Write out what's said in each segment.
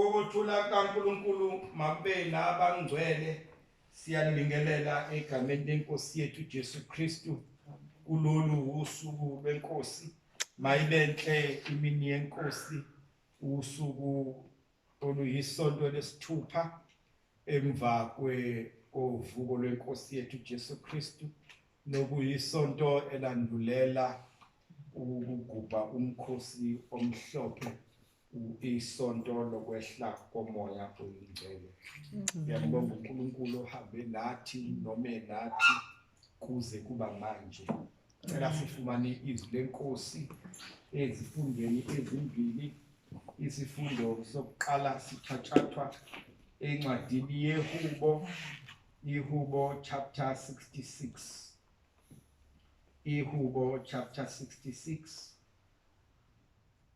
Ukuthula kukaNkulunkulu makube nabangcwele siyanibingelela egameni lenkosi yethu Jesu Kristu kulolu usuku lwenkosi mayibenhle imini yenkosi usuku oluyisonto lesithupha emva kwe kovuko lwenkosi yethu Jesu Kristu nokuyisonto elandulela ukugubha umkhosi omhlophe isonto lokwehla komoya oyingcwele ngiyambonga uNkulunkulu ohambe nathi nome nathi kuze kuba manje cela sifumane izwi lenkosi ezifundweni ezimbili isifundo sokuqala sithathathwa encwadini yehubo ihubo chapter 66 ihubo chapter 66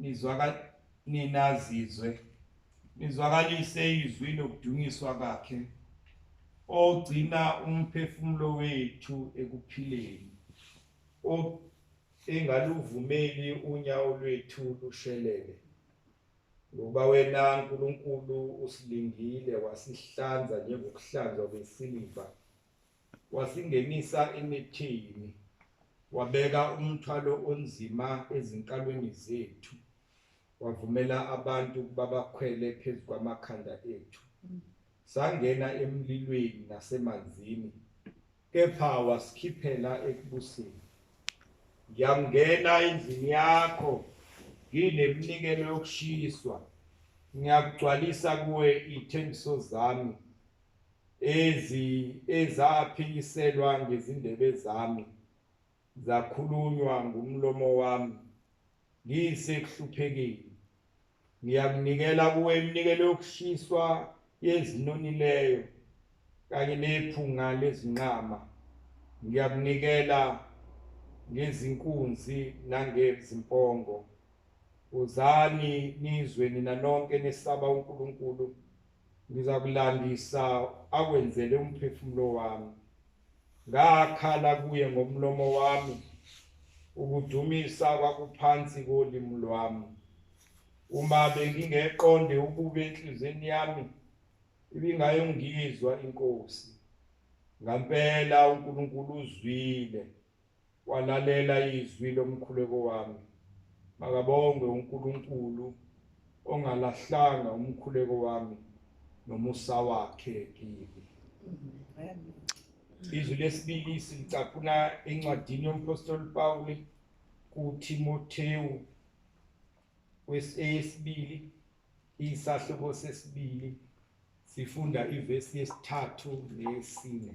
Nizwaka ninazizwe nizwakalise izwi lokudunyiswa kwakhe ogcina umphefumulo wethu ekuphileni engaluvumeli unyawo lwethu lushelele ngoba wena Nkulunkulu usilingile wasihlanza njengokuhlanzwa kwesiliva wasingenisa emithini wabeka umthwalo onzima ezinkalweni zethu wavumela abantu ukuba bakhwele phezu kwamakhanda ethu sangena emlilweni nasemanzini kepha wasikhiphela ekubuseni ngiyangena endlini yakho ngineminikelo yokushiswa ngiyakugcwalisa kuwe ithembiso zami Ezi ezaphikiselwa ngezindebe zami, zakhulunywa ngumlomo wami, ngisekuhluphekile. Ngiyakunikela kuwe iminikelo yokushiswa yezinonileyo kanye nephunga lezinqama. Ngiyakunikela ngezinkunzi nangezimpongo. Wozani nizwe nina nonke nesaba uNkulunkulu. Ngizakulandisa akwenzele umphefumulo wami. Ngakhala kuye ngomlomo wami, ukudumisa kwakuphansi kolimi lwami. Uma bengingeqonde ukube enhlizweni yami, ibingayongizwa inkosi. Ngampela uNkulunkulu uzwile. walalela izwi lomkhuleko wami makabongwe uNkulunkulu ongalahlanga umkhuleko wami nomusa wakhe kimi izwi lesibili silicapuna encwadini yomphostoli Pawule kuThimothewu wesibili isahluko sesibili sifunda ivesi yesithathu nesine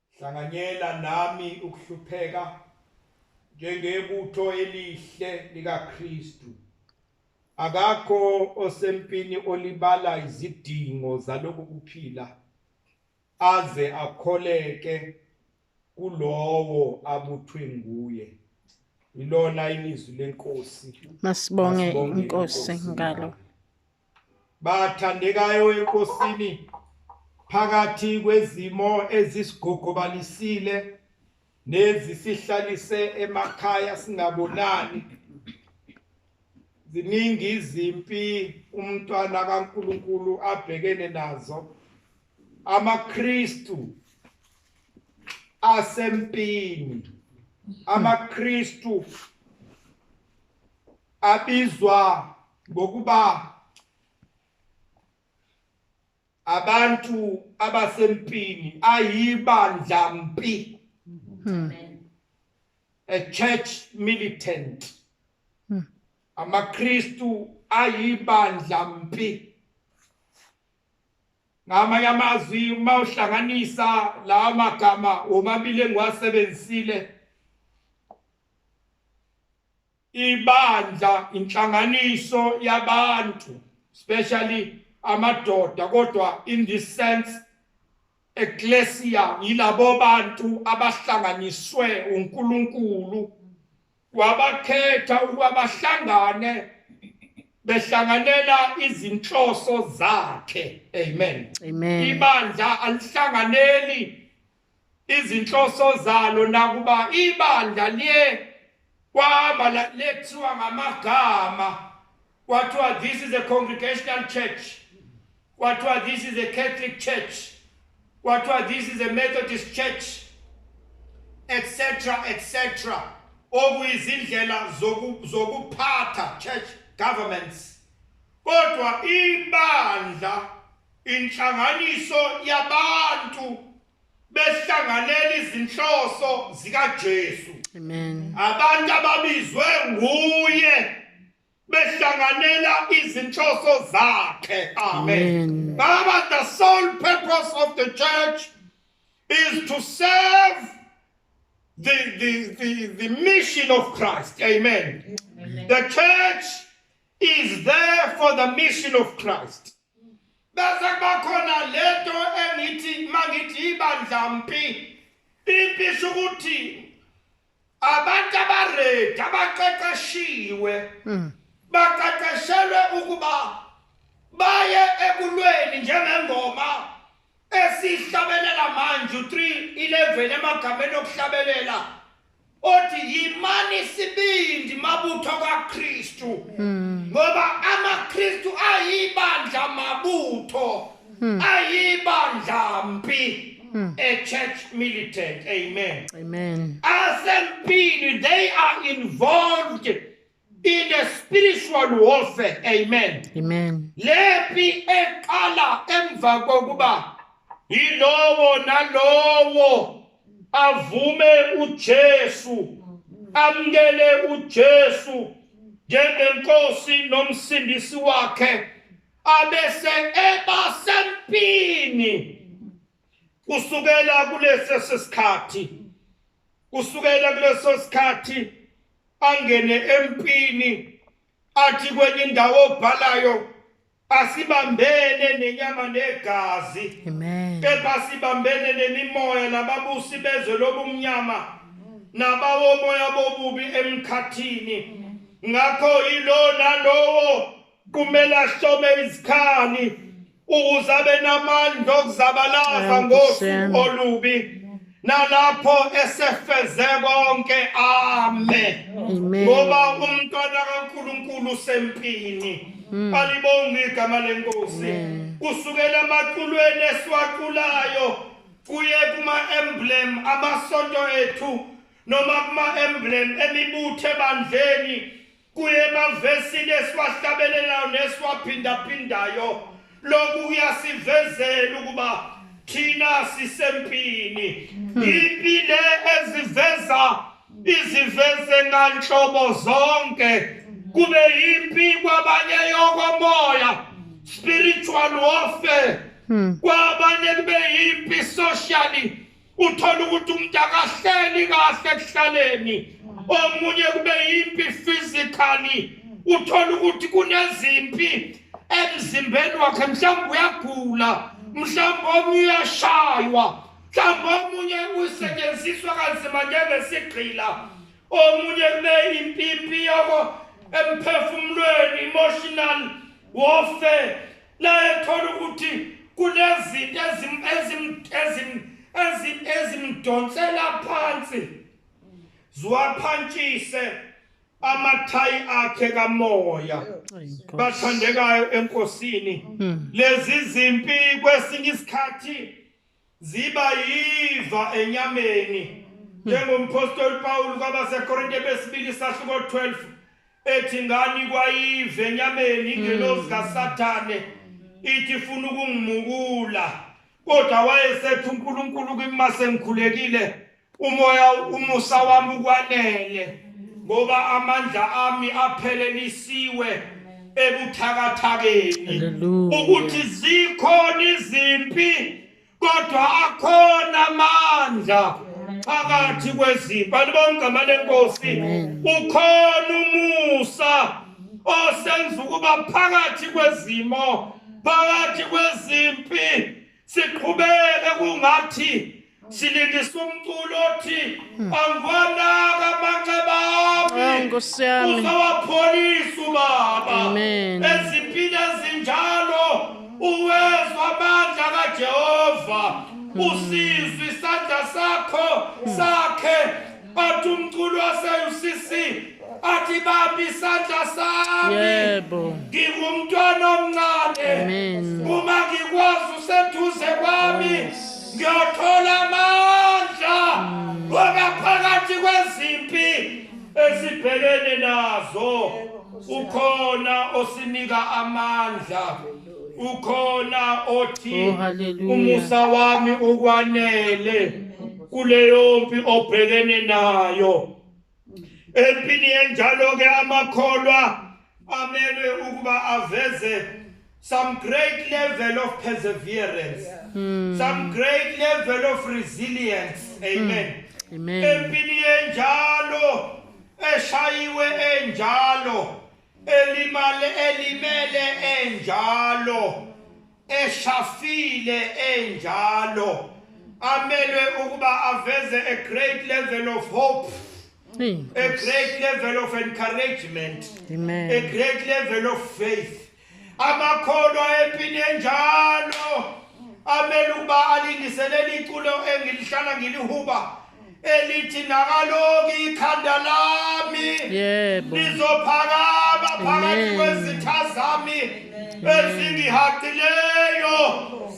Hlanganyela nami ukuhlupheka njengebutho elihle likaKristu. Akakho osempini olibala izidingo zaloku kuphila aze akholeke kulowo abuthwe nguye ilona ilizwi lenkosi masibonge inkosi ngalo bathandekayo enkosini phakathi kwezimo ezisigogobalisile nezisihlalise emakhaya singabonani ziningi izimpi umntwana kaNkuluNkulu abhekene nazo amaKristu asempini amaKristu abizwa ngokuba abantu abasempini ayibandla mpi hmm. a church militant hmm. amaKristu ayibandla mpi ngamanye amazwi uma uhlanganisa lawa magama womabili engiwasebenzisile ibandla inhlanganiso yabantu especially amadoda kodwa in this sense eklesia yilabo bantu abahlanganiswe uNkulunkulu wabakhetha ukuba bahlangane behlanganela izinhloso zakhe amen amen ibandla alihlanganeli izinhloso zalo nakuba ibandla liye kwama lethiwa ngamagama kwathiwa this is a congregational church kwathiwa this is a catholic church kwathiwa this is a methodist church etc etc okuyizindlela zokuphatha church governments kodwa ibandla Inhlanganiso yabantu behlanganela izinhloso zikaJesu. Amen. Abantu ababizwe nguye behlanganela izinhloso zakhe. Amen. Baba the sole purpose of the church is to serve the the the, the mission of Christ. Amen. Amen. The church is there for the mission of Christ. bese kuba khona lento engithi mangithi ibandla mpi impi isho ukuthi abantu abaredi abaqeqeshiwe hmm. baqeqeshelwe ukuba baye ekulweni njengengoma Esihlabelela manje u-3 ileveli emagameni okuhlabelela othi yimani sibindi mabutho kaKristu hmm. ngoba amaKristu ayibandla mabutho hmm. ayibandla mpi hmm. a church militant amen amen asempini they are involved in a spiritual warfare amen amen lepi eqala emva kokuba yilowo nalowo avume uJesu amkele uJesu njengenkosi nomsindisi wakhe abese eba sempini kusukela kuleso sikhathi kusukela kuleso sikhathi angene empini athi kwenye indawo obhalayo asibambene nenyama negazi amen kepha sibambene nemimoya nababusi bezwe lobumnyama nabawomoya bobubi emkhathini ngakho yilona lowo kumele ahlome izikhali ukuze abe namandla okuzabalaza ngosuku olubi nalapho esefeze konke ame ngoba umntwana kaNkuluNkulu usempini hmm. alibonga igama lenkosi kusukela amaculweni esiwaculayo kuye kuma emblem amasonto ethu noma kuma emblem emibuthe bandleni Kuye emavesini esiwahlabelelayo nesiwaphindaphindayo lokhu kuyasivezela ukuba thina sisempini impi le eziveza iziveze nganhlobo zonke kube impi kwabanye yokomoya spiritual warfare kwabanye kube impi socially uthola ukuthi umuntu akahleli kahle ekuhlaleni omunye kube yimpi physically uthola ukuthi kunezimpi emzimbeni wakhe mhlawumbe uyagula mhlawumbe omunye uyashaywa mhlawumbe omunye usetshenziswa kanzima njengesigqila omunye kube impi impi yoko emphefumulweni emotional warfare Naye thola ukuthi kunezinto ezim ezim ezim ezim ezimdonsela phansi. Ziwaphantshise amathayi akhe kamoya. Bathandekayo enkosini. Hmm. Lezi zimpi kwesinye isikhathi ziba yiva enyameni njengomphostoli Pawulu kwabaseKorinte besibili sahluko 12 ethi ngani kwayive enyameni ingelosi mm. kaSathane ithi ifuna ukungimukula kodwa wayesethi uNkulunkulu kimi masengikhulekile Umoya umusa wami ukwanele ngoba amandla ami aphelelisiwe ebuthakathakeni ukuthi zikhona izimpi kodwa akhona amandla phakathi kwezimpi alibongama lenkosi ukhona umusa osenza ukuba phakathi kwezimo phakathi kwezimpi siqhubeke kungathi silindisa umculo othi hmm. angwanaka amanxeba ami oh, nkosi yami uzawapholisa ubaba ezimpini ezinjalo uwezwa amandla kajehova hmm. usizwa isandla sakho hmm. sakhe bathi umculo wase-ucc athi bambi isandla sami yebo ngingumntwana omncane uma ngikwazi useduze kwami ngiyothola amandla mm. ngoba phakathi kwezimpi esibhekene nazo ukhona osinika amandla ukhona othi oh, umusa wami ukwanele kuleyo mpi obhekene nayo empini enjalo ke amakholwa amelwe ukuba aveze some great level of perseverance mm. some great level of resilience amen mm. amen empini enjalo eshayiwe enjalo elimale elimele enjalo eshafile enjalo amelwe ukuba aveze a great level of hope a great level of encouragement Amen. a great level of faith amakholwa empini enjalo amele ukuba alingiselele iculo engilihlala ngilihuba elithi nakaloku ikhanda lami yebo lizophakama phakathi kwezitha zami ezingihaqileyo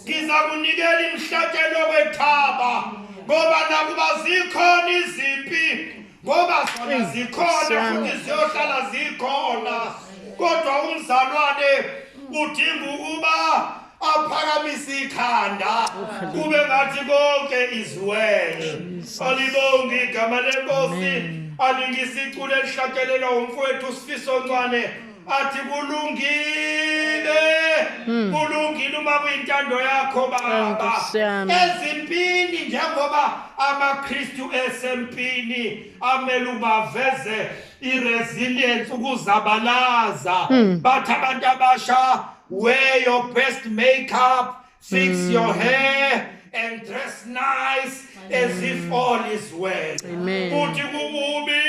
ngiza kunikela imhlatshelo kwethaba ngoba nakuba zikhona izimpi ngoba zona zikhona futhi ziyohlala zikhona kodwa umzalwane udinga ukuba aphakamise ikhanda kube ngathi konke iziwele alibonge igama lenkosi alingisiculo elihlakelelwa umfowethu usifiso ncwane athi kulungile hmm. kulungile uma kuyintando yakho baba ezimpini njengoba amaKristu esempini amele ubaveze iresilience ukuzabalaza hmm. bathi abantu abasha Wear your best makeup, fix mm. your hair and dress nice Amen. as if all is well. Amen. Uthi kukubi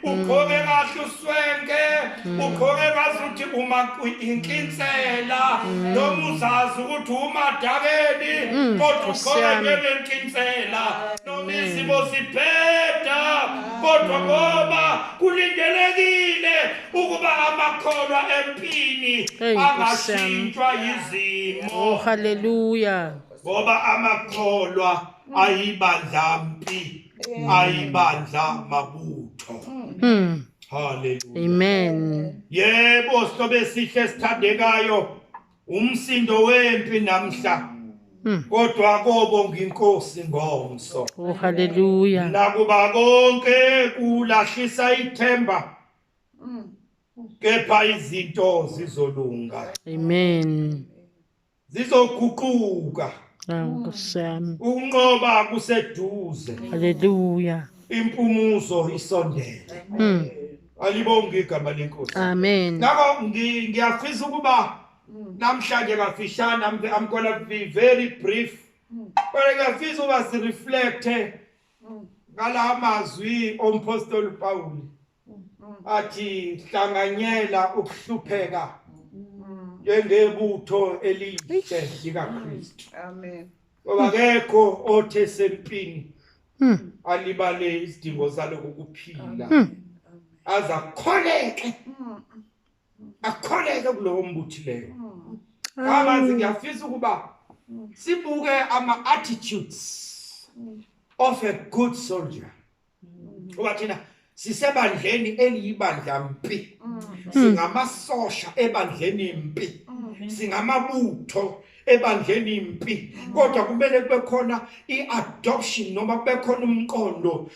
ukhonge kahle uswenke ukhonge kahle uthi uma inkinsela noma uzazi ukuthi umadakeni kodwa ukhonge ngenkinsela noma izimo zibheda kodwa ngoba kulindelekile ukuba amakholwa empini angashintshwa yizimo oh haleluya ngoba amakholwa ayibandla mpi ayibandla mabutho hmm. haleluya amen yebo sobe sihle sithandekayo umsindo wempi namhla hmm. kodwa kobo nginkosi ngomso oh haleluya nakuba konke kulahlisa ithemba kepha izinto zizolunga amen zizoguquka Nkosyami. Unqoba kuseduze. Haleluya. Impumuzo isondele. Mm. Alibonge igama lenkosi. Amen. Ngakho ngiyafisa ukuba namhlanje kafishane I'm going to be very brief. Kodwa ngiyafisa uba si reflect ngala mazwi ompostoli Pawulu athi hlanganyela ukuhlupheka njengebutho elihle likaKristu amen ngoba kekho othe sempini hmm. alibale isidingo zalokuphila hmm. aza kukholeke hmm. akukholeke kulowo mbuthileyo kabanzi ngiyafisa ukuba sibuke ama-attitudes of a good soldier ngoba thina sisebandleni eliyibandla mpi singamasosha ebandleni mpi singamabutho ebandleni impi kodwa kumele kube khona i-adoption noma kube khona umqondo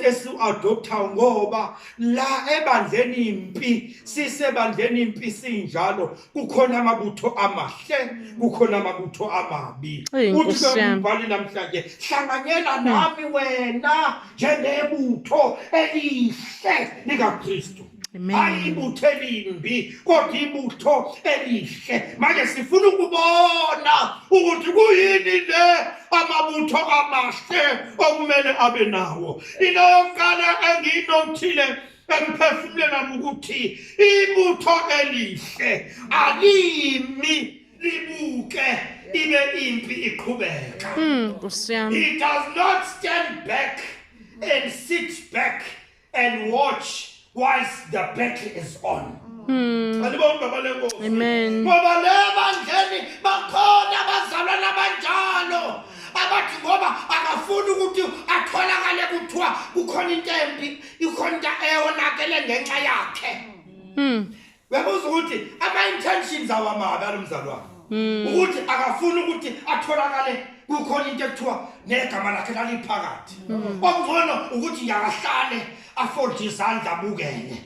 esiwu-adopthayo ngoba la ebandleni impi sisebandleni impi sinjalo kukhona amabutho amahle kukhona amabutho amabi uthi bekumbhali namhlanje hlanganyela nami wena njengebutho elihle likakristu hayi ibutho elimbi kodwa ibutho elihle manje sifuna ukubona ukuthi kuyini le amabutho amahle okumele abe nawo into yokuqala engiyinothile emphefumulweni wami ukuthi ibutho elihle alimi libuke ibe impi iqhubeka hmm, it does not stand back and sit back and watch whilst the battle is on andibona baba lenkosi Hmm. Amen. ngoba le bandleni bakhona abazalwana abanjalo abathi ngoba akafuni ukuthi atholakale kuthiwa kukhona into embi ikhona into eyonakele ngenxa yakhe Hmm. Uyabuza ukuthi ama intentions awamabi alomzalwane. Hmm. Ukuthi akafuni ukuthi atholakale kukhona into ekuthiwa negama lakhe laliphakathi. Hmm. Okungcono ukuthi yakahlale afold izandla bukene.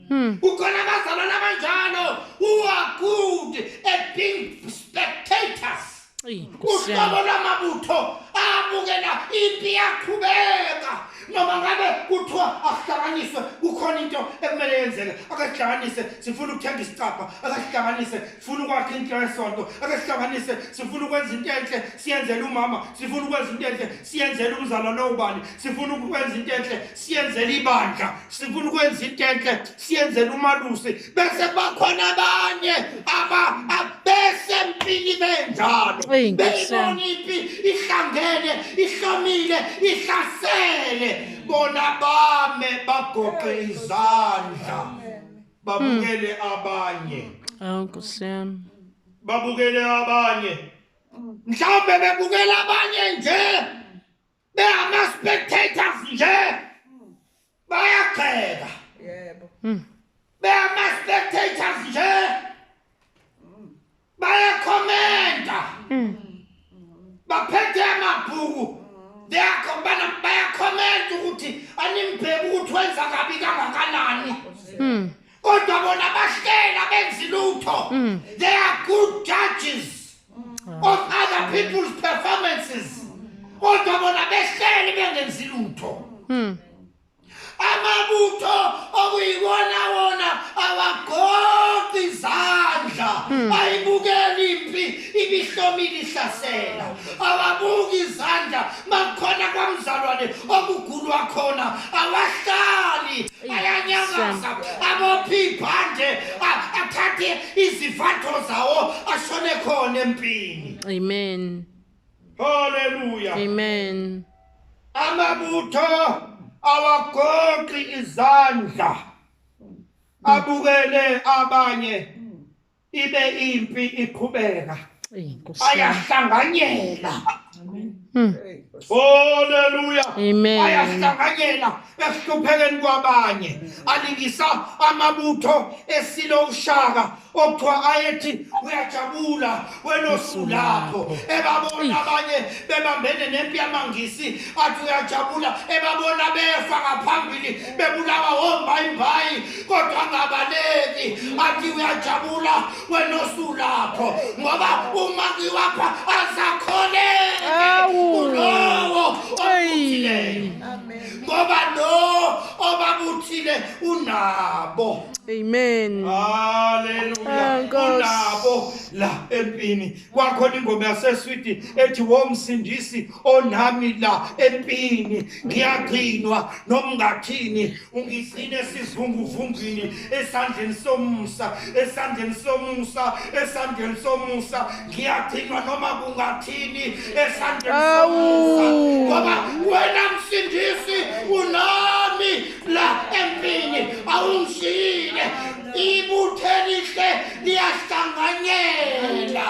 Hmm. Ukhona abazalwana kanjalo who are good at being spectators. uhlobo lwamabutho abukela impi yaqhubeka noma ngabe kuthiwa akuhlanganiswe kukhona into ekumele yenzeke akasihlanganise sifuna ukuthenga isicabha akasihlanganise sifuna ukwakha into yesonto akasihlanganise sifuna ukwenza into enhle siyenzele umama sifuna ukwenza into enhle siyenzele umzala lowubani sifuna ukwenza into enhle siyenzele ibandla sifuna ukwenza into enhle siyenzele umalusi bese bakhona abanye aba abesempini benjalo Eyi, Nkosi yami. beyibona impi ihlangene ihlomile ihlasele bona bame bagoqe izandla babukele abanye Awu Nkosi yami. babukele abanye mhlawumbe bebukela abanye nje bengama-spectators nje bayagxeka yebo hmm. bengama-spectators nje bayakhomenta hmm. baphethe amabhuku bayakhomenta ukuthi animbheki ukuthi wenza kabi kangakanani hmm. kodwa bona bashela benzi lutho mm. they are good judges mm. of other people's performances kodwa bona behleli bengenzi lutho mm. amabutho okuyiwona wona awagoqi izandla hmm. ayibukeli impi ibihlomile ihlasela awabuki izandla makukhona kwamzalwane okugulwa khona awahlali ayanyakaza abophi ibhande a- athathe izivatho zawo ashone khona empini Amen. haleluya Amen. amabutho awagoqi izandla abukele abanye ibe impi iqhubeka bayahlanganyela hmm. Hallelujah. Amen. Ayahlanganyela ekuhluphekeni kwabanye. Alingisa amabutho esilo ushaka okuthiwa ayethi uyajabula wena osulapho ebabona abanye bebambene nempi yamangisi athi uyajabula ebabona befa ngaphambili bebulawa wombayimbayi kodwa angabaleki athi uyajabula wena osulapho ngoba uma ngiwapha azakholeki kulowo omuthileyo ngoba lo obabuthile unabo amen haleluya ah, unabo la empini kwakhona ingoma yaseswidi ethi womsindisi onami la empini ngiyagcinwa noma ngathini ungigcine esizunguvungini esandleni somusa esandleni somusa esandleni somusa ngiyagcinwa noma kungathini esandleni somusa ngoba wena msindisi unami la empini awungishiyile ibuthelihle liyahlanganyela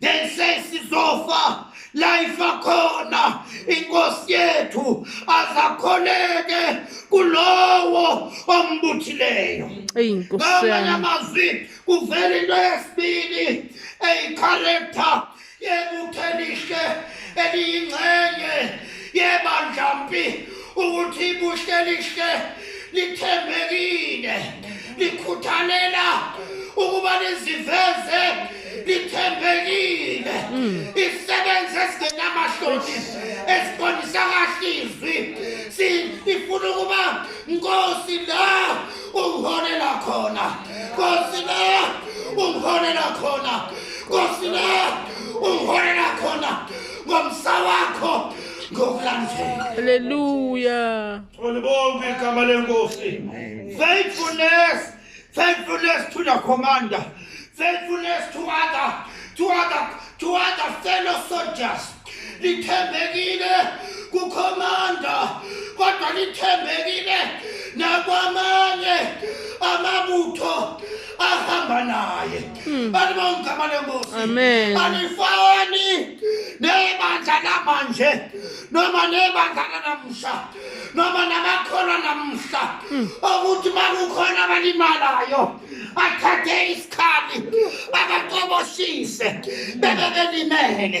then says sizofa life akhona inkosi yethu azakholeke kulowo ombuthileyo ngamanye amazwi kuvela into yesibili eyicharacta yebuthelihle eliyingxenye yebandlampi ukuthi ibuhlelihle lithembekile likhuthalela ukuba liziveze ithembekile isebenza ezingenamahloni esiqondisa kahle izwi sifuna ukuba nkosi la ungiholela khona nkosi la ungiholela khona nkosi la ungiholela khona ngomsa wakho ngokulandela haleluya olibonke igama lenkosi faithfulness Faithfulness to the commander. Faithfulness to other, to other, to other fellow soldiers. Lithembekile kukhomanda kodwa lithembekile nakwamanye amabutho ahamba naye hmm. bantu bangigama lenkosi alifani nebandla lamanje noma nebandla lanamhla noma namakholwa namuhla okuthi makukhona abalimalayo athathe isikhali abaqoboshise bebe belimele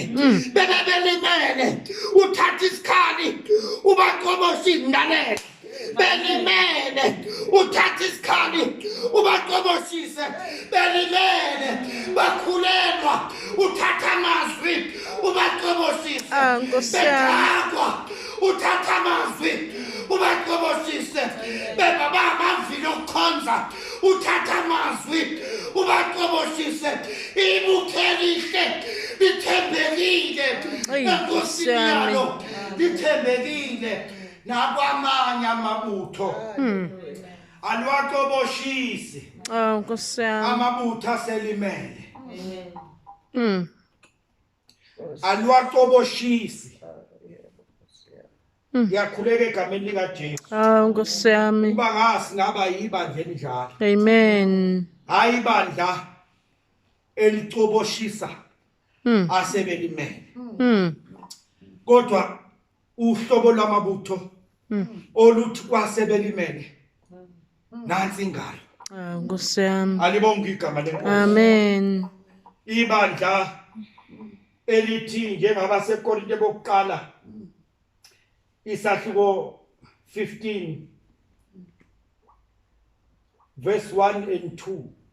bebe belimele uthathe isikhali ubaqoboshe izindalela belimele uthathe isikhali ubaqoboshise belimele bakhulelwa uthatha amazwi ubaqoboshise ah, bekakwa uthatha amazwi ubacobosise beba bamavile okukhonza uthatha amazwi ubacobosise ibukelihle lithembekile enkosini yalo lithembekile nakwamanye amabutho hmm. alwacoboshisi oh, amabutho aselimele hmm. alwacoboshisi Mm. ngiyakhuleka egameni likaJesu hawu ah, nkosi yami uba ngasi ngaba yibandla elinjalo amen hayi ibandla elicoboshisa mm. asebelimele mm. kodwa uhlobo lwamabutho mm. oluthi kwasebelimele mm. nansi ingalo ah, nkosi yami alibonga igama lenkosi amen ibandla elithi njengaba sekorinte bokuqala isahluko 15 verse 1 and 2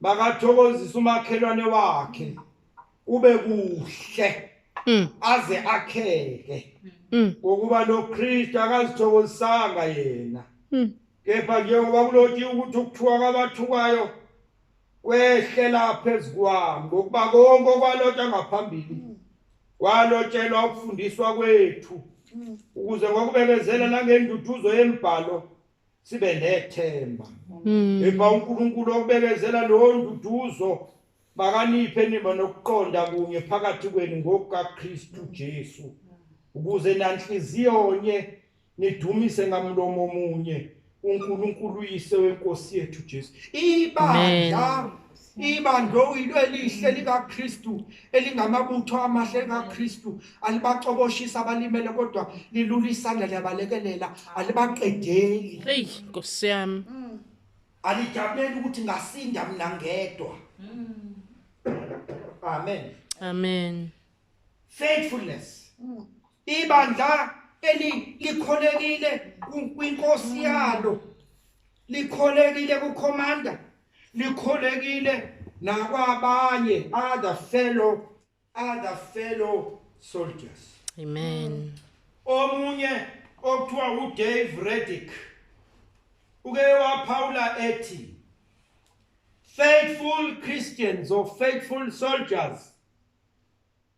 makathokozisa umakhelwane wakhe kube kuhle mm. aze akheke mm. ngokuba noKristu akazithokozisanga yena mm. kepha njengoba kuloti ukuthi ukuthuka kwabathukayo kwehlela phezu kwami ngokuba konke okwalotshwa ngaphambili kwalotshelwa ukufundiswa kwethu ukuze ngokubekezela nangenduduzo yemibhalo sibe nethemba mm. epha uNkulunkulu okubekezela lo nduduzo bakaniphe nima nokuqonda kunye phakathi kwenu ngokukaKristu Jesu ukuze nanhliziyo onye nidumise ngamlomo omunye uNkulunkulu uyise wenkosi yethu Jesu ibandla Ibandla uyilo elihle likaKristu elingamabutho amahle kaKristu alibacoboshisa abalimele kodwa lilula isandla liyabalekelela alibaqedeli. Hey Nkosi yami. Mm. Alijabuleli ukuthi ngasinda mina ngedwa. Mm. Amen. Amen. Faithfulness. Mm. Ibandla eli likholekile kwinkosi yalo likholekile kukhomanda likholekile nakwabanye other fellow other fellow soldiers amen omunye okuthiwa uDave Reddick uke waphawula ethi faithful Christians or faithful soldiers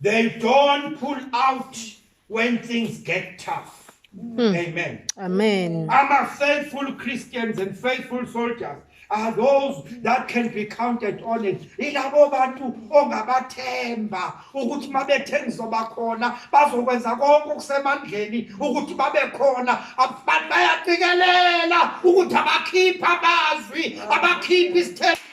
They don't pull out when things get tough. Mm. Amen. Amen. I'm a faithful Christians and faithful soldiers are those that can be counted on it ilabo bantu ongabathemba ukuthi mabethe ngizobakhona bazokwenza konke okusemandleni ukuthi babe khona abantu bayaqikelela ukuthi abakhipha amazwi abakhipha isithembiso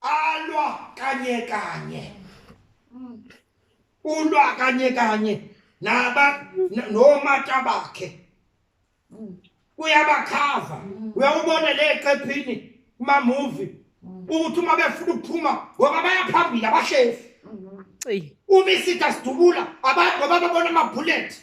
alwa kanye kanye ulwa kanye kanye naba nomata bakhe uyabakhava uyawubona le qephini kuma movie ukuthi uma befuna ukuphuma ngoba bayaphambili abashefu uma isitha sidubula ngoba babona ama-bullet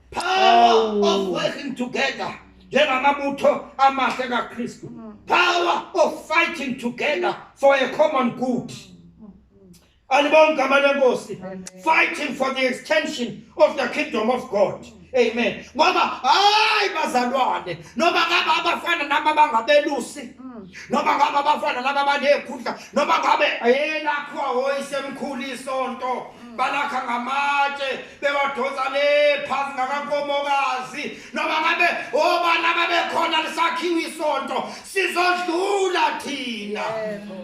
Power of working together. Njengamabutho amahle kaKristu. Power of fighting together for a common good. Alibonga igama lenkosi. Fighting for the extension of the kingdom of God. Amen. Ngoba hayi bazalwane noma ngaba abafana naba bangabelusi noma ngabe abafana laba banekhundla noma ngabe yena kho oyisemkhulu isonto balakha ngamatshe bewadonsa le phansi ngakankomokazi noma ngabe obana babekhona lisakhiwa isonto sizodlula thina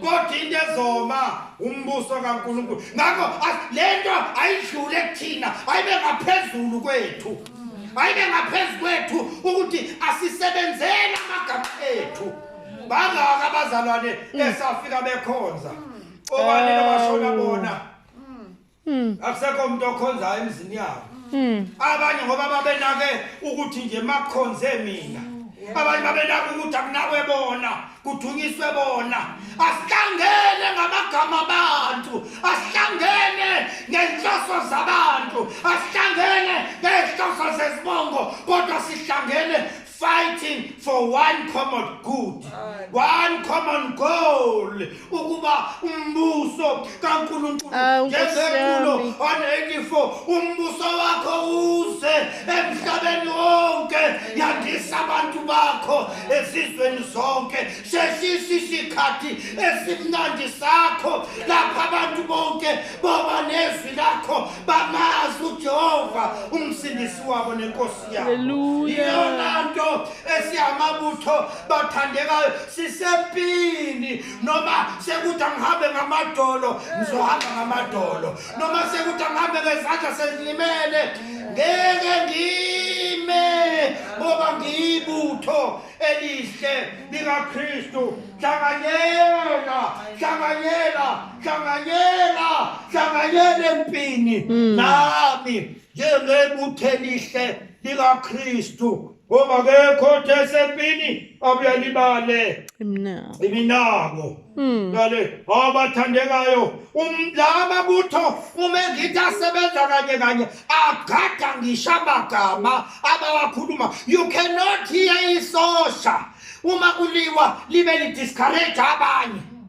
kodwa into ezoma umbuso kaNkulunkulu ngakho lento ayidlule kuthina ayibe ngaphezulu kwethu ayibe ngaphezulu kwethu ukuthi asisebenzele amagama ethu bangaka abazalwane mm. esafika bekhonza obani nabashona bona Mm. akusekho umuntu okhonzayo emzini yabo Mm. abanye ngoba babenake ukuthi nje makukhonze mina abanye babenake ukuthi akunakwe bona kuthunyiswe bona asihlangene ngamagama abantu asihlangene ngenhloso zabantu asihlangene ngey'nhloso zezibongo kodwa sihlangene fighting for one common good one common goal ukuba umbuso kaNkulunkulu ah, ngezekulo 184 umbuso wakho uze emhlabeni wonke yandisa abantu bakho ezizweni zonke sheshisa isikhathi esimnandi sakho lapha abantu bonke boba nezwi lakho bamazi uJehova umsindisi wabo nenkosi iyona nto esiyamabutho bathandekayo sisempini noma sekuthi angihambe ngamadolo ngizohamba ngamadolo noma sekuthi angihambe ngezandla sezilimele ngeke ngime ngoba ngiyibutho elihle likakristu hlanganyela hlanganyela hlanganyela hlanganyela empini hmm. nami njengebuthe elihle likaKristu ngoba kekho othe esempini abuyalibale iminako hmm. ngale abathandekayo umlama butho uma ngithi asebenza kanye kanye agada ngisho amagama abawakhuluma you cannot hear isosha uma kuliwa libe lidiscourage abanye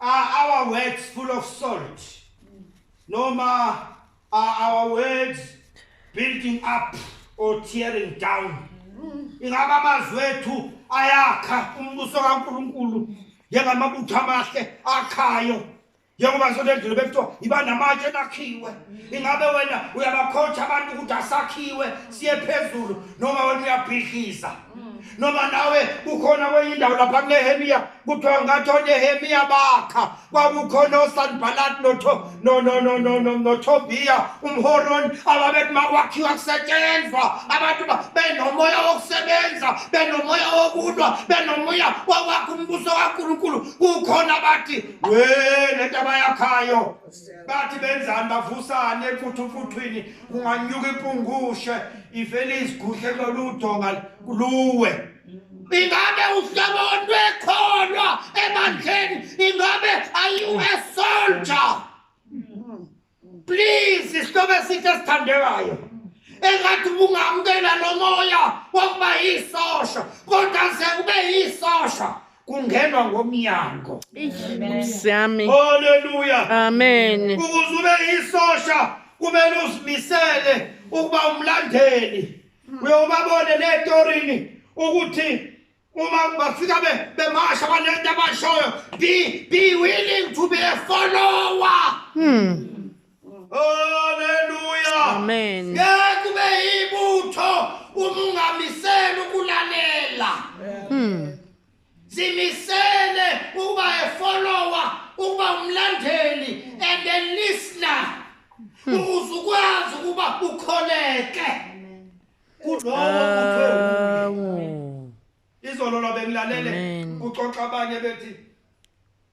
Are our words full of salt? Noma are our words building up or tearing down? Ingaba amazwi ethu ayakha umbuso kaNkulunkulu njengamabutho amahle akhayo njengoba sonto endlule bekuthiwa yiba namatshe enakhiwe ingabe wena uyabakhotha abantu ukuthi asakhiwe siye phezulu noma wena uyabhidliza noma nawe kukhona kwenye indawo lapha kunehemiya kuthiwa ngathi onehemiya bakha kwakukhona osanibhalat notobiya umhoroni ababethi makwakhiwa kusetshenzwa abantu benomoya wokusebenza benomoya wokulwa benomoya wokwakha umbuso kankulunkulu kukhona bathi we le nto abayakhayo bathi benzani bavusane emfuthumfuthwini kunganyuka impungushe ivele izigudle kuloludonga luwe ingabe uhlaboni lwekholwa ebandleni ingabe are you a soldier please isihlobo esihle esithandekayo engathi ubungamkela lo moya wokuba yisosha kodwa ze ube yisosha kungenwa ngomnyango siyami haleluya amen ukuze ube yisosha kumele uzimisele ukuba umlandeli hmm. uyobabone netorini ukuthi uma bafika be bemasha banento abashoyo be be willing to be a follower hmm haleluya amen ngeke kube ibutho uma ungamisela ukulalela hmm zimisele ukuba a follower ukuba umlandeli and a listener hmm. ukuze ukwazi ukuba ukholeke kulowo muntu izolo lwabengilalele kuxoxa abanye bethi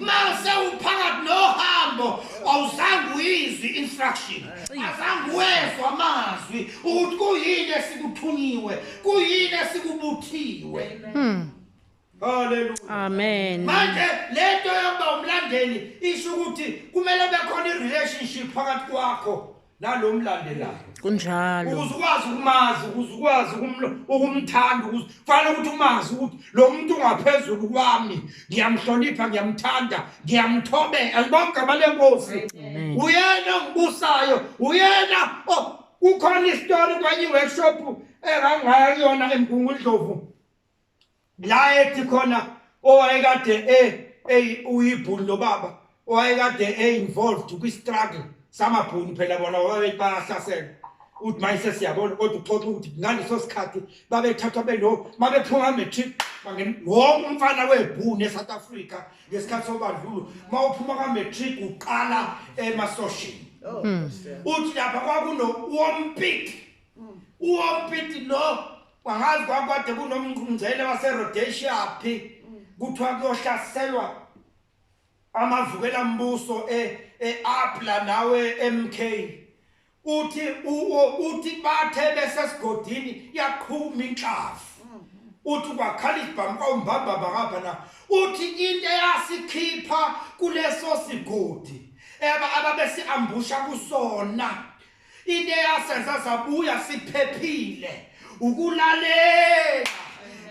mase uphakathi nohambo awuzange uyizwe instruction azange wezwa amazwi ukuthi kuyini esikuthunyiwe kuyini esikubuthiwe hmm. Haleluya. Amen. Manje lento yokuba umlandeli isho ukuthi kumele bekhona irelationship phakathi kwakho nalo mlandelayo kunjalo ukuze ukwazi ukumazi ukuze ukwazi ukumthanda ukuze kufanele ukuthi umazi ukuthi lo muntu ungaphezulu kwami ngiyamhlonipha ngiyamthanda ngiyamthobela alibonke amalenkosi uyena ongibusayo uyena oh, kukhona isitori kwenye workshop engangaya kuyona emgungundlovu la ethi khona owayekade e ey uyibhulu lo baba owayekade e involved kwi struggle samabhunu phela bona wabethi bayahlasela uthi mayise siyabona kodwa uxoxa ukuthi ngaleso sikhathi babethathwa beno mabephuma matric bangena wonke umfana webhunu eSouth Africa ngesikhathi sobandlulo mawuphuma ka matric uqala emasoshini oh, hmm. uthi lapha kwakuno wompit wompit lo Wangazi kwakwade kunomngqungqele waseRhodesia phi kuthiwa kuyohlaselwa amavukela mbuso eApla e nawe MK uthi uthi bathe besesigodini yaqhuma inhlavu uthi kwakhala isibhamu kwawumbamba bangapha na uthi into eyasikhipha kuleso sigodi eba ababesiambusha kusona Into eyasenza sabuya siphephile ukulalela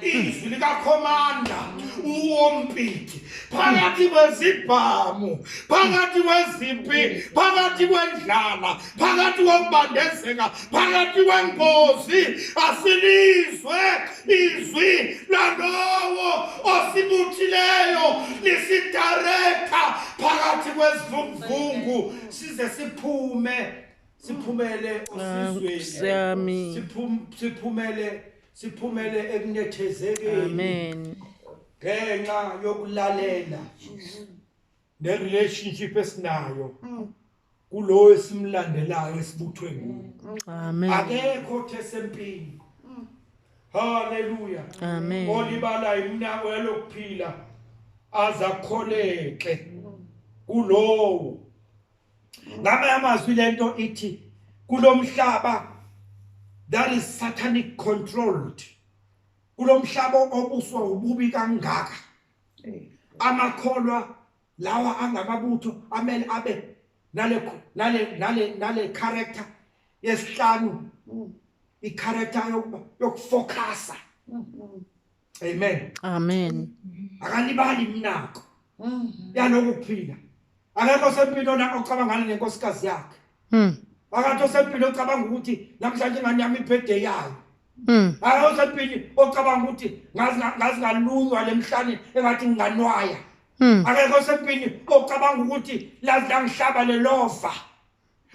izwi likakhomanda uwompiti phakathi kwezibhamu phakathi kwezimpi phakathi kwendlala phakathi kokubandezeka phakathi kwengozi asilizwe izwi lalowo osibuthileyo lisidarekha phakathi kwezivunguvungu size siphume siphumele osizweni siphumele siphumele ekunethezekeni amen ngenxa yokulalela ne relationship esinayo mm. kulowo esimlandelayo esibuthwe nguye amen akekho othe sempini haleluya amen olibala imnako yalokuphila azakholeke kulowo ngama amazwi lento ithi kulomhlaba that is satanic controlled kulomhlaba obuswa ububi kangaka amakholwa lawa angamabutho amele abe nale nale nale nale character yesihlanu mm. i character yokuba yokufocusa mm, mm. amen amen akalibali mnako yaloku kuphila akekho sempilo na ocabangana nenkosikazi yakhe akathi osempilo ocabanga ukuthi namhlanje ingane yami ibhede yayo Mm. Hayi usempini ocabanga ukuthi ngazi ngazi ngalunywa lemhlane engathi nginganwaya. Mm. Akekho sempini ocabanga ukuthi lazi langihlaba lelova.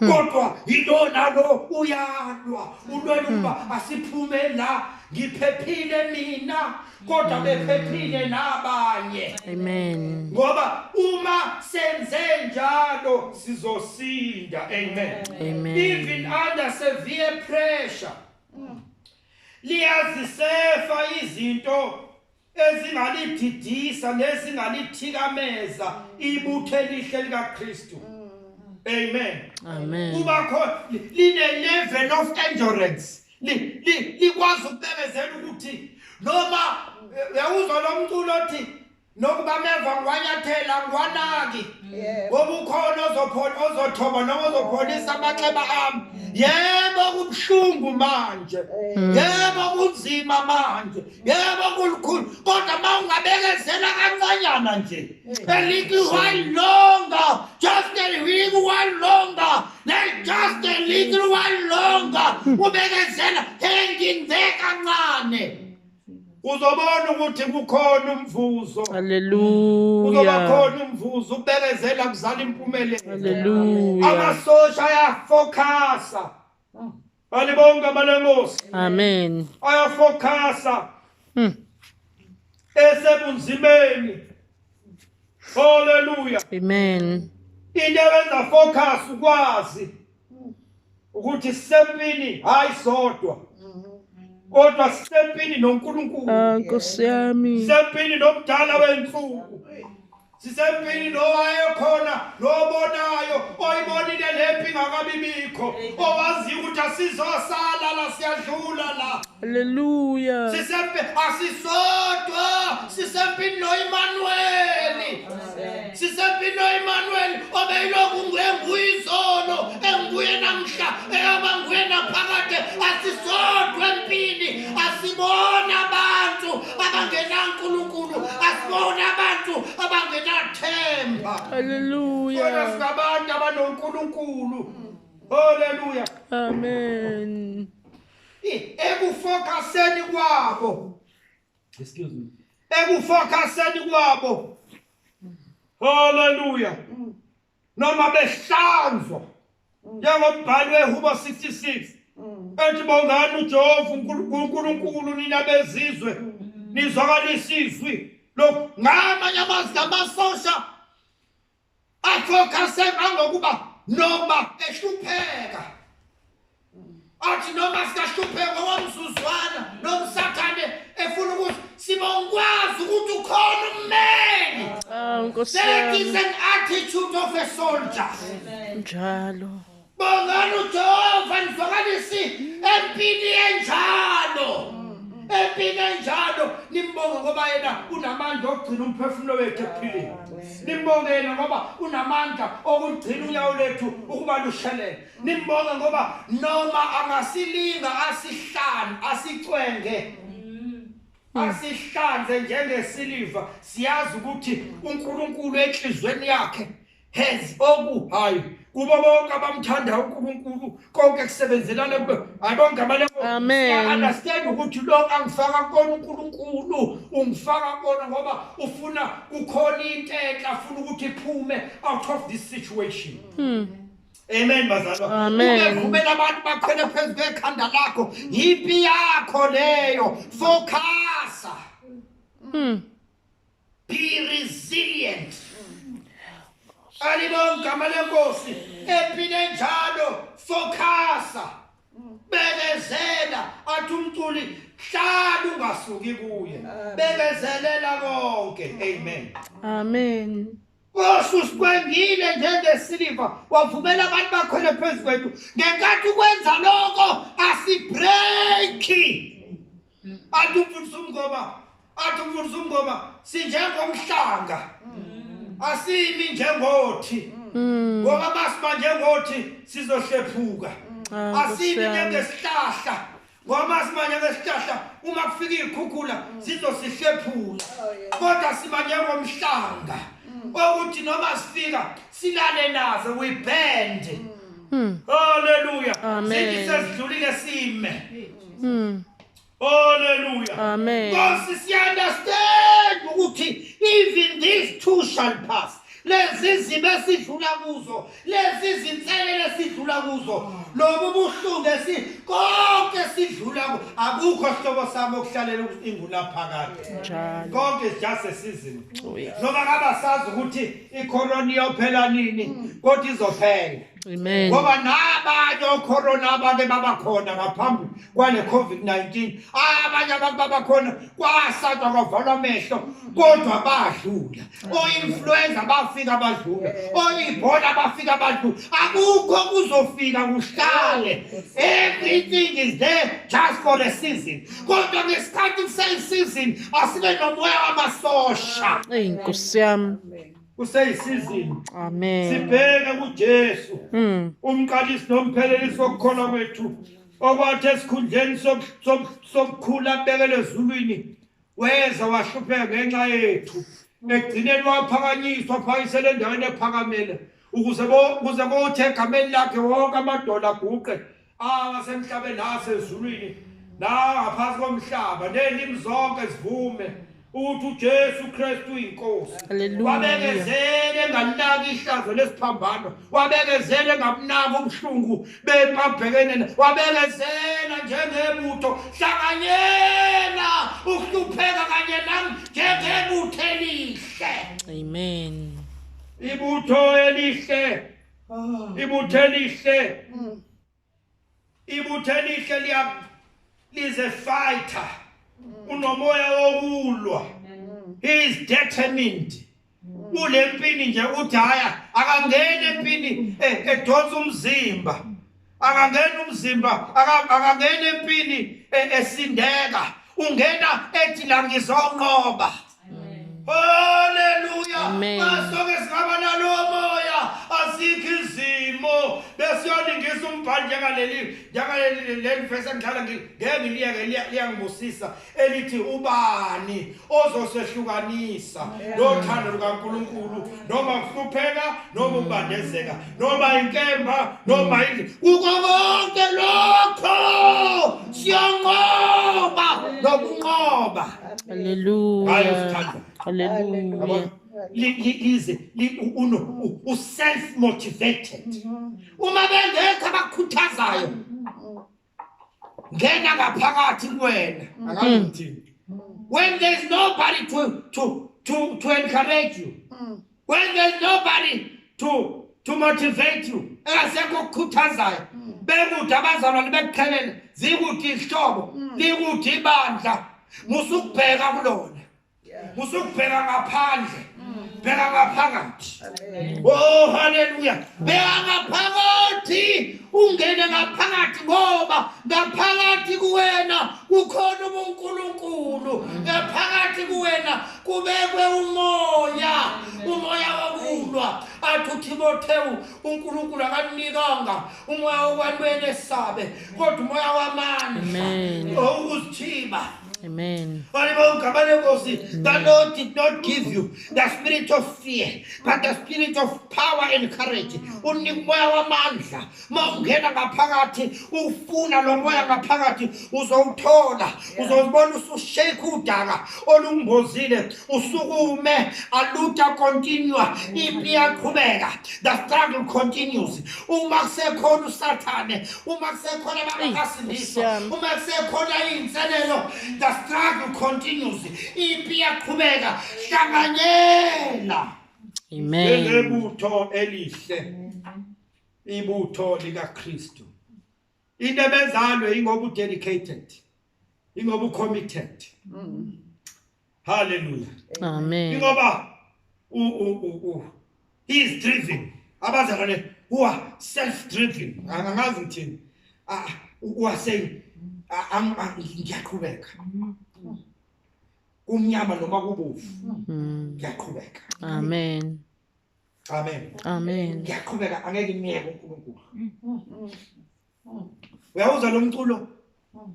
Mm. Kodwa yilona lo uyalwa ulwela mm. ukuba asiphume la ngiphephile mina kodwa mm. bephephile nabanye. Amen. Ngoba uma senze njalo sizosinda. Amen. Amen. Even under severe pressure liyazisefa izinto ezingalididisa nezingalithhikameza ibutho elihle likaKristu amen amen kuba khona line level of endurance likwazi ukubemezela ukuthi noma eh, uyawuzwa lomculo othi nokuba meva ngiwanyathela ngiwanaki ngoba ukhona ozophona ozothoba noma ozophonisa amanxeba ami yebo kubuhlungu manje mm. yebo kunzima manje yebo kulukhulu kodwa uma ungabekezela kancanyana nje mm. elithi while longer just a little while longer just a little while longer mm. ubekezela hanging there kancane uzobona ukuthi kukhona umvuzo haleluya uzoba khona umvuzo ubekezela kuzala impumelelo haleluya amasosha ayafocusa balibonke abalenkosi amen ayafocusa hmm. esebunzimeni haleluya amen into eyenza focus ukwazi ukuthi sisempini hayi sodwa kodwa sisempini noNkulunkulu ah, Nkosi yami sisempini nomdala wensuku sisempini nowayekhona nobonayo oyibonile lempi ngakabibikho owaziyo ukuthi asizosala la siyadlula la haleluya sisempini asisodwa sisempini noImanuweli sisempilo Emmanuel obeyilokhu ngenguye izolo enguye namhla eyaba nguye naphakade asisodwa empini asibona abantu abangenankulunkulu asibona abantu abangenathemba haleluya kodwa singabantu abanonkulunkulu haleluya amen ekufokaseni kwabo Excuse me. Ekufocuseni kwabo. Hallelujah. Mm. Noma behlanzwa. Mm. Njengombhali weHubo 66. Mm. Ethi bongani uJehova uNkulunkulu nina bezizwe. Nizwakalisa izwi. Lo ngamanye amazwi amasosha Afocuse angokuba noma ehlupheka. Athi noma sikahlupheka wamzuzwana nomsathane efuna ukuthi sibongwazi ukuthi ukhona ummeli. Ah, Nkosi That is yami. an attitude of a soldier. Njalo. Bongani uJehova nivakalisi empini enjalo. Empini enjalo nimbonge ngoba yena unamandla okugcina umphefumulo wethu ekuphileni. Nimbonge yena ngoba unamandla okugcina unyawo lethu ukuba lushelele. Nimbonge ngoba noma angasilinga asihlanu asicwenge. Asihlanze njengesiliva siyazi ukuthi uNkulunkulu enhlizweni yakhe has oku hayi kubo bonke abamthanda uNkulunkulu konke kusebenzelana kulo hayi bonke abale amen understand ukuthi lo angifaka kona uNkulunkulu ungifaka kona ngoba ufuna kukhona into enhle afuna ukuthi iphume out of this situation hmm. Amen bazalwa. Ungevumela abantu bakhwele phezulu kwekhanda lakho. Yipi yakho leyo. Focus. Hmm. be resilient alibonke igama lenkosi ephile njalo focusa bekezela athi umculi hlala ungasuki kuye bekezelela konke amen amen osusikwengile njengesiliva wavumela abantu bakhwele phezu kwethu ngenkathi ukwenza lokho asibreaki athi umfundisi umngoma athi umfundisi umngoma sinjengomhlanga asimi njengothi mm. ngoba masiba njengothi sizohlephuka mm. asimi njengesihlahla ngoba masimanye ngesihlahla uma kufika iy'khukhula mm. zizosihlephula oh, kodwa siba njengomhlanga okuthi noma sifika silale nazo we band haleluya sithi sesidlulile sime Mm. Hallelujah. Amen. Nkosi siyandastand ukuthi even these two shall pass. Lezi zimo esidlula kuzo, lezi zinselele esidlula kuzo, lobu buhlungu esi konke sidlula ku- akukho sihlobo sami okuhlalela ukuthi inguna phakade. Njalo. Konke is just a season. Oh, yes. Noma ngabasazi ukuthi icorona iyophela nini, kodwa izophela. Amen. Ngoba nabanye ocorona abake babakhona ngaphambi kwale COVID-19 abanye abantu babakhona kwasatwa kwavalwa amehlo kodwa badlula o-influenza bafika badlula o-ibhola bafika badlula akukho kuzofika kuhlale everything is there just for the season kodwa ngesikhathi kuseyiseason asibe nomoya wamasosha eyi nkosi yami kuseyisizini amen sibheke kuJesu mm. umqalisi nomphelelisi wokukholwa kwethu okwathi esikhundleni sokukhula abekele ezulwini weza wahlupheka ngenxa yethu ekugcineni waphakanyiswa phakisele endaweni ephakamele ukuze kuze kothe egameni lakhe wonke amadola aguqe awasemhlabeni nasezulwini nangaphansi komhlaba nelimi zonke zivume ukuthi uJesu Kristu uyinkosi wabekezele enganaki ihlazo lesiphambano wabekezele engakunaki ubuhlungu bemabhekene wabekezela njengebutho hlanganyela ukuhlupheka kanye nami njengebutho elihle amen ibutho elihle Ah. ibuthe elihle mm. ibuthe elihle liya lize fighter mm. unomoya wokulwa mm. he is determined kule mpini nje uthi haya akangene empini eh, edonsa umzimba akangena umzimba akangena empini e, esindeka ungena ethi la ngizonqoba haleluya asoke singaba nalo moya asikho izimo besiyoningisa umbhali njengaleli njengaleli leli vese ngihlala ngeke ngiliyeke liyangibusisa elithi ubani ozosehlukanisa nothando lukaNkuluNkulu noma kuhlupheka noma ukubandezeka noma inkemba noma indle kuko konke lokho siyanqoba nokunqoba haleluya haleluya lize uno uself motivated mm-hmm. uma bengekho abakhuthazayo ngena ngaphakathi kuwena akangithini when there's nobody to to to to encourage you when there's nobody to to motivate you engasekho okukhuthazayo bekude abazalwane bekuqhelele zikude izihlobo likude ibandla musukubheka kulona Musukubheka ngaphandle. Bheka ngaphakathi. Oh haleluya. Bheka ngaphakathi. Ungene ngaphakathi ngoba ngaphakathi kuwena kukhona uNkulunkulu. Ngaphakathi kuwena kubekwe umoya. Umoya wokulwa. Athi uThimothewu uNkulunkulu akanikanga umoya wokwanwena esabe kodwa umoya wamandla. Oh uzithiba. Amen. That Lord did not give you the spirit of fear, but the spirit of power and courage. Unika umoya wamandla. Uma ungena ngaphakathi, ufuna lo moya ngaphakathi, uzowuthola. Uzozibona usushake udaka olungozile, usukume, aluta continue, impi iyaqhubeka. The struggle continues. uma kusekhona usathane uma kusekhona abangakasindiswa uma kusekhona iy'nselelo the struggle continues impi iyaqhubeka hlanganyela njengebutho elihle ibutho likakristu into ebenzalo ingoba u dedicated ingoba u committed mm. haleluya amen ingoba u u u he is driven abazalwane who are self driven angazi ngithini ah, who are saying ah, ah, ah, ngiyaqhubeka kumnyama noma kubovu mm. ngiyaqhubeka amen Amen. Amen. Ngiyaqhubeka angeke imiyeke uNkulunkulu. Mm, mm, mm, Uyawuza lo mculo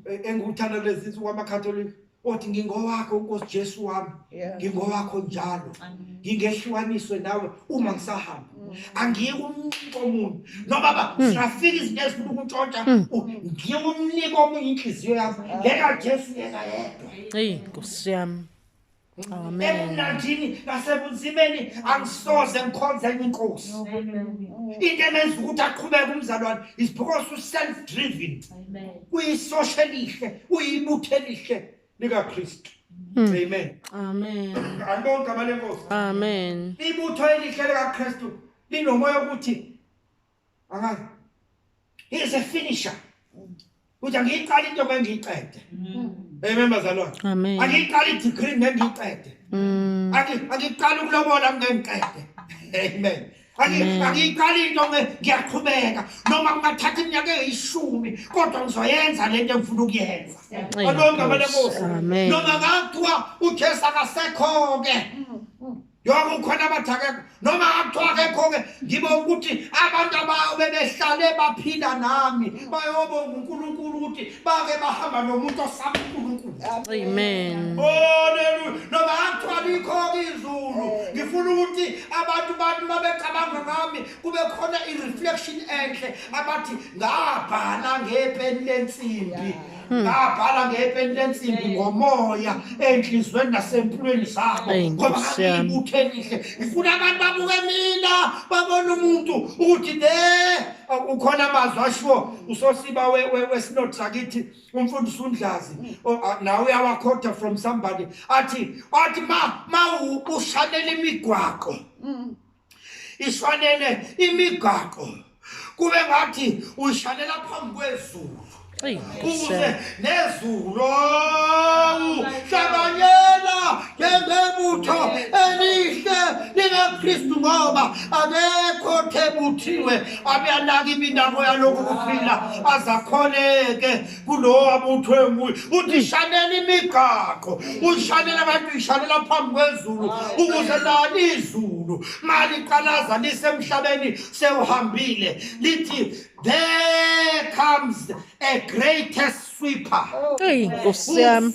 e, engiwuthanda kulezi insuku amaCatholic othi ngingowakho uNkosi Jesu wami. Ngingowakho njalo. Ngingehlukaniswe nawe uma ngisahamba. Angiyi kumnike omuntu. No baba, siyafika izinto ezifuna ukuntshontsha. Ngiye kumnike omunye inhliziyo yami. Leka Jesu yena yedwa. Hey, Nkosi yami. ebumnandini nasebunzimeni angisoze ngikhonze enye inkosi into emenza ukuthi aqhubeke umzalwane is because u-self driven uyisosha elihle uyibutho elihle likakristu hmm. amen amen alibonke amalenkosi amen ibutho elihle likakristu linomoya okuthi Aha. He is a finisher. Uthi angiyiqala into ngengiyiqede. Amen bazalwane. Amen. Angiyiqala i-degree ngengiyiqede. Mm. Angiyiqala ukulobola ngengiqede. Amen. angiyiqala into ngiyaqhubeka noma kungathatha iminyaka eyishumi kodwa ngizoyenza le nto engifuna ukuyenza olonke amalebosi noma ngathiwa ujesu akasekho-ke yonke ukhona abathi akekho noma akuthiwa akekho-ke ngibe ukuthi abantu abayo bebehlale baphila nami bayobonga unkulunkulu ukuthi bake bahamba nomuntu osaba unkulunkulu amen oleluya noma akuthiwa likho-ke izulu ngifuna ukuthi abantu bantu babecabanga ngami kube khona i-reflection enhle abathi ngabhala ngepeni lensimbi yeah. Hmm. ngabhala ngepeni lensimbi ngomoya enhlizweni nasempilweni zabo ngoba ngangiyibuthe elihle ngifuna abantu babuke mina babone umuntu ukuthi le ukhona amazwi ashiwo usosiba wesinodi sakithi umfundisi undlazi nawe uyawakhotha from somebody athi athi ma ma ushanela imigwaqo hmm. ishanele imigaqo kube ngathi uyishanela phambi kwezulu ukuze nezulu hlanganyela ngebutho elihle likaKristu ngoba akekho thebuthiwe abeyanaka iminako yalokhu kuphila azakhoneke kulowo abuthwe nguye uthi ishanela imigaqo uyishanela abantu uyishanela phambi kwezulu ukuze lani izulu maliqalaza lisemhlabeni sewuhambile lithi there comes a greatest sweeper hey nkosi yami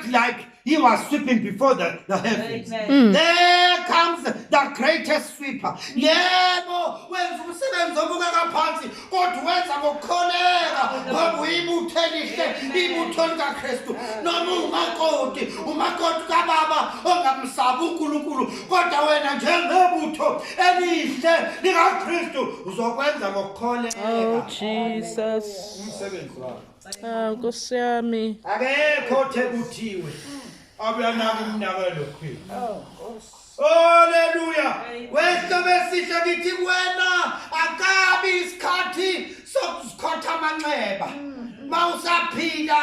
like He was sweeping before the, the heavens. Amen. There comes the greatest sweeper. Yebo wenza umsebenzi obukeka phansi kodwa wenza ngokukholeka ngoba uyibutho elihle ibutho likaKristu noma ungumakoti umakoti kababa ongamsabi uNkulunkulu kodwa wena njengebutho elihle likaKristu uzokwenza ngokukholeka Oh, Jesus. umsebenzi wakho Ah Nkosi yami. Akekho othe kuthiwe. Abuyanaka umnaka lo kuphila. Oh Nkosi. Haleluya. Wehla besihle kithi wena akabi isikhathi sokuzikhotha amanxeba. Mawusaphila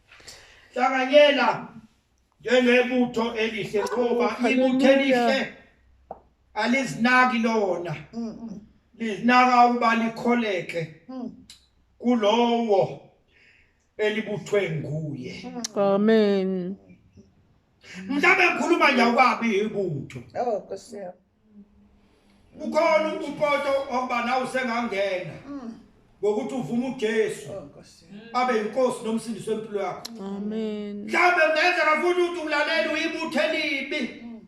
Hlanganyela njengebutho elihle ngoba ibutho elihle alizinaki lona. Lizinaka ukuba likholeke kulowo elibuthwe nguye. Amen. Mhlawumbe ngikhuluma nje awukabi ibutho. Oh, Nkosi yami. Ukhona upoto oba nawe usengangena. Mm. Ngokuthi uvume uJesu. Oh, abe inkosi nomsindisi wempilo yakho. Amen. Mhlawumbe kungenzeka futhi ukuthi ulalela uyibuthe libi. Mm.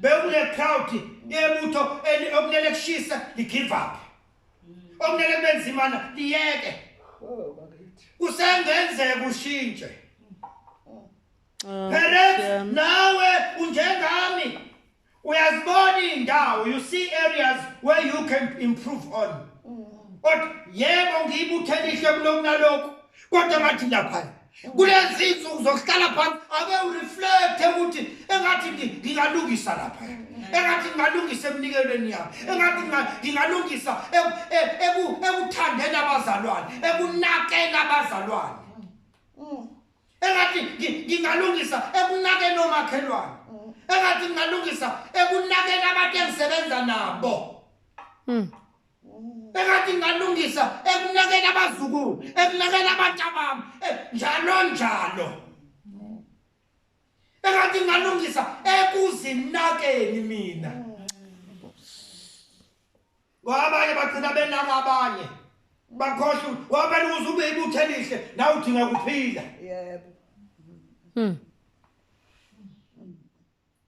Bewule crowd yebutho okunele kushisa ligive up. Mm. Okunele kubenzimana liyeke. Oh, Kusengenzeka ushintshe. Oh, Perhaps nawe unjengami. Uyazibona indawo, you see areas where you can improve on. Mm. Kodwa yebo ngiyibuthela ihle kulokunalokho. Kodwa ngathi lapha kulezi insuku zokuhlala phansi ake ureflecte ukuthi engathi ngingalungisa lapha engathi ngingalungisa emnikelweni yami engathi ngingalungisa ekuthandeni abazalwane ekunakeni abazalwane engathi ngingalungisa ekunakeni omakhelwane mm. engathi ngingalungisa ekunakeni abantu engisebenza nabo mm. engathi ngingalungisa ekunakeni abazukulu ekunakeni abantu abami eh, njalo njalo engathi ngingalungisa ekuzinakeni mina mm. ngoba abanye bagcina benaka abanye bakhohlwa ngoba phela ukuze ube ibutho elihle nawe udinga kuphila yebo mm.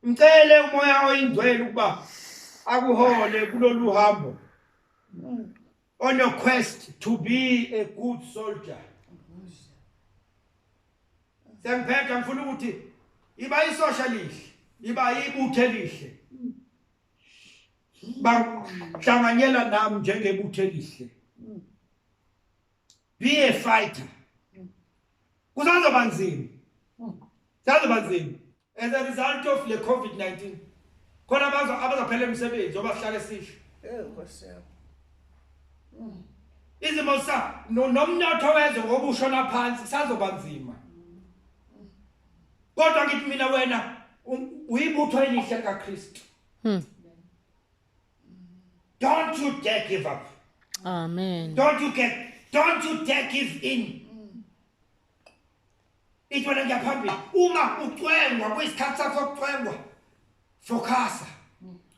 mcele umoya oyingcwele ukuba akuhole kulolu hambo mm. on a quest to be a good soldier sengiphetha ngifuna ukuthi iba isosha lihle iba ibuthe lihle bahlanganyela nami njengebutho elihle be a fighter kusazoba nzima sazoba nzima as a result of le covid-19 khona abazo abazaphela emsebenzi obahlale sihle izimo sa nomnotho wezwe ngokusho naphansi sazoba nzima kodwa ngithi mina wena uyibutho elihle kaKristu hmm. don't you dare give up amen don't you get don't you dare give in ithi wena ngiyaphambili uma ucwengwa kuyisikhathi sakho sokucwengwa focasa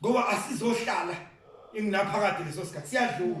ngoba asizohlala ingunaphakade leso sikhathi siyadlula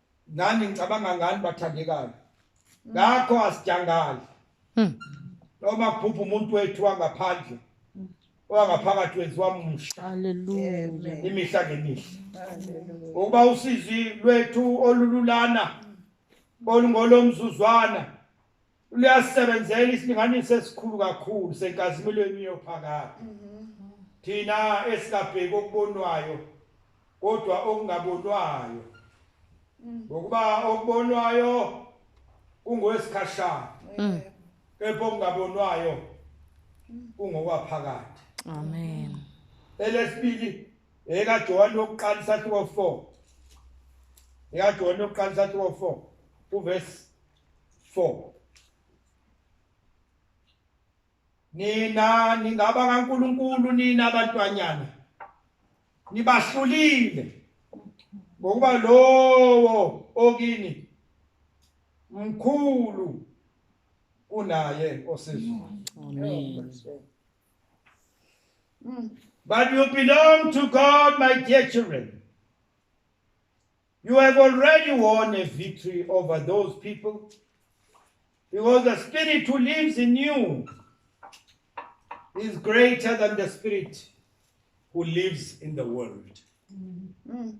Nani ngicabanga ngani bathandekayo. Ngakho asijangali. Hmm. Noma kuphupha umuntu wethu wangaphandle. Owangaphakathi wenziwa umsha. Hallelujah. Imihla ngemihla. Hallelujah. Ukuba usizi lwethu olululana olungolomzuzwana luyasebenzela isilinganiso esikhulu kakhulu senkazimulweni yophakade thina esingabheki okubonwayo kodwa okungabonwayo ngokuba okubonwayo kungowesikhashana kepha okungabonwayo kungokwaphakade amen elesibili ekaJohane wokuqala isahluko 4 ekaJohane wokuqala isahluko 4 uverse 4 nina ningaba kaNkuluNkulu nina abantwanyana nibahlulile ngokuba lowo okini mkhulu kunaye osizwa amen but you belong to God my dear children You have already won a victory over those people because the spirit who lives in you is greater than the spirit who lives in the world. Mm.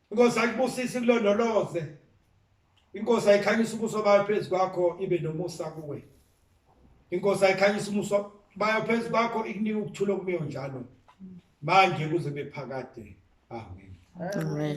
Because I akubusisi kulondoloze. Inkosi ayikhanyisa ubuso bayo phezu kwakho ibe nomusa kuwe. Inkosi ayikhanyisa umuso bayo phezu kwakho ikunika ukuthula okumiyo njalo. Manje kuze bephakade. Amen. Amen.